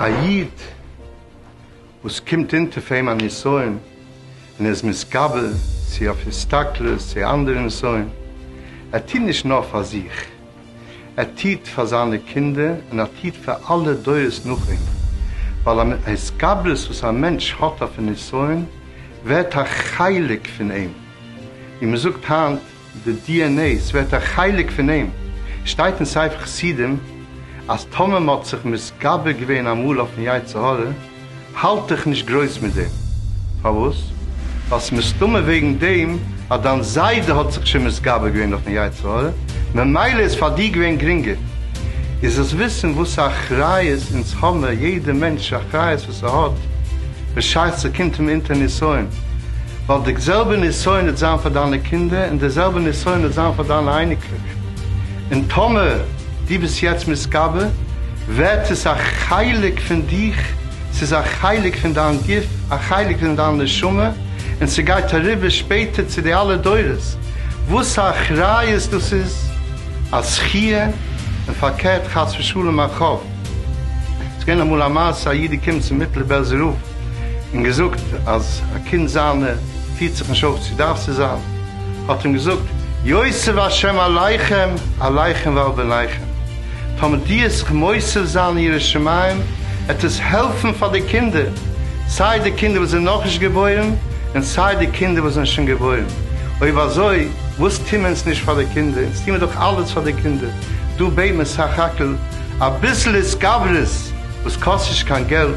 א איד וואס קומט אונטער אויף אים א נסיון און ער איז מתגבר צו אויף הסתכלות צו אנדערע נסיון, ער טוט נישט נאר פאר זיך, עתיד פאר זיינע קינדער און עתיד פאר אלע דורות נאך אים, ווייל א מין התגברות וואס א מענטש האט אויפן נסיון ווערט א חלק פון אים, ווי מען זאגט היינט די די ען עי, ס'ווערט א חלק פון אים, שטייט אין ספר חסידים אז טאמער מען האט זיך מתגבר געווען אמאל אויפן יצר הרע, האלט דיך נישט גרויס מיט דעם. פארוואס? ווייל ס'איז מסתמא וועגן דעם אז דיין זיידע האט זיך שוין מתגבר געווען אויפן יצר הרע, ממילא איז פאר דיר געווען גרינגער. איז דאס וויסן וואס א אחריות אונז האמער, יעדע מענטש אחריות וואס ער האט בשעת ס'קומט אים אונטער נסיון, ווייל די זעלבע נסיון וועט זיין פאר דיינע קינדער, און די זעלבע נסיון וועט זיין פאר דיינע אייניקלעך. און טאמער דו ביסט יעצט מתגבר, ווערט עס א חלק פון דיך, ס'איז א חלק פון דיין גוף, א חלק פון דיין נשמה, און ס'גייט אריבער שפעטער צו די אלע דורות, וואס א אחריות דאס איז, א זכי', און פארקערט חס ושלום א חוב. ס'איז געווען אמאל א מעשה, א איד איז געקומען צום מיטלער בעלזער רב און געזאגט אז א קינד זיינער פירט זיך נישט אויף צו דארף צו זיין, האט אים געזאגט, יוסף השם עליכם, עליכם ועל בניכם. טאמער די עסט מוסיף זיין יראת שמים עט עס העלפן פאר די קינדער, סיי די קינדער וואס זענען נאכנישט געבוירן און סיי די קינדער וואס זענען שוין געבוירן, אויב אזוי וואס טוהן מיר אונז נישט פאר די קינדער, אונז טוהן מיר דאך אלעס פאר די קינדער, דא בעט מען סך הכל אביסל התגברות וואס קאסט נישט קיין געלט.